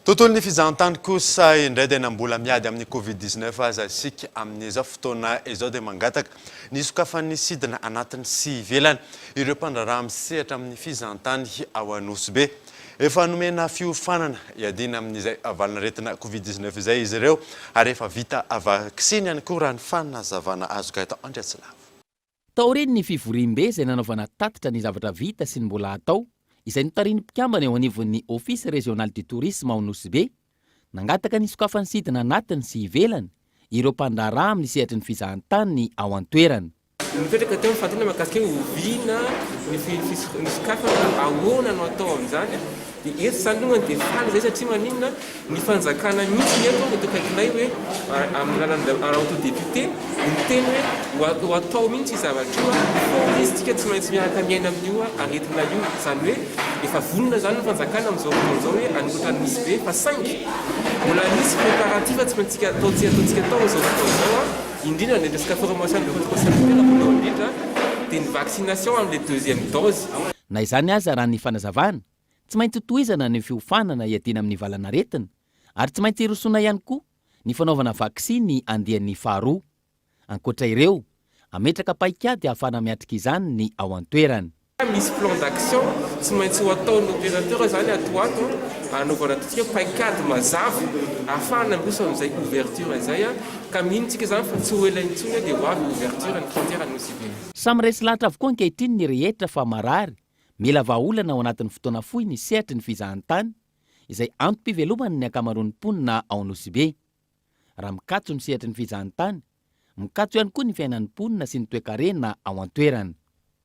Tontolon'ny fizahantany kosa indray dia na mbola miady amin'ny covid dix neuf aza isika amin'izao fotoana izao dia mangataka ny hisokafan'ny sidina anatiny sy ivelany ireo mpandraharaha misehatra amin'ny fizahantany ao Anosibe. Efa nomena fiofanana hiadiana amin'izay valin'aretina covid dix neuf izay izy ireo ary efa vita vaksiny ihany koa raha ny fanazavana azoko eto Andriatsilavo. Taorian'ny fivoriambe izay nanaovana tatitra ny zavatra vita sy ny mbola hatao, izay notarihin'ny mpikambana eo anivon'ny Office Régional du Tourisme ao Nosy Be, nangataka ny sokafan'ny sidina anatiny sy ivelany ireo mpandraharaha amin'ny sehatry ny fizahantany ao an-toerana. Nipetraka teo ny fanontaniana mahakasika hoe oviana ny fisokafana, ahoana no atao amin'izany Dia eto izany aloha dia faly izay satria maninona ny fanjakana mihitsy ny eto eto akaikinay hoe amin'ny alalan'ny Raoto député no miteny hoe ho atao mihitsy io zavatra io fa izy tsika tsy maintsy miaraka miaina amin'io aretina io izany hoe efa vonona izany ny fanjakana amin'izao fotoana izao hoe hanoratra ny nosy be fa saingy mbola misy préparatif tsy maintsika atao tsy ataontsika atao amin'izao fotoana izao a indrindra ny resaka formation de votre sanitaire voalohany indrindra dia ny vaccination amin'ilay deuxième dose Na izany aza, raha ny fanazavana, tsy maintsy hotohizana ny fiofanana hiadiana amin'ny valan'aretina ary tsy maintsy hirosoana ihany koa ny fanaovana vaksiny andiany faharoa. Ankoatra ireo, hametraka paikady hahafahana miatrika izany ny ao an-toerana. Misy plan d'action tsy maintsy ho ataon'ny opérateur izany ato ho ato, hanaovana ataontsika hoe paikady mazava hahafahana handroso amin'izay ouverture izay ka mino isika izany fa tsy ho ela intsony dia ho avy ny ouverture ny frontière Anosibe. Samy resy lahatra avokoa ankehitriny ny rehetra fa marary, mila vahaolana ao anatin'ny fotoana fohy ny sehatry ny fizahantany, izay antom-pivelomany ny ankamaroan'ny mponina ao Nosy-Be. Raha mikatso ny sehatry ny fizahantany, mikatso ihany koa ny fiainan'ny mponina sy ny toekarena ao an-toerana.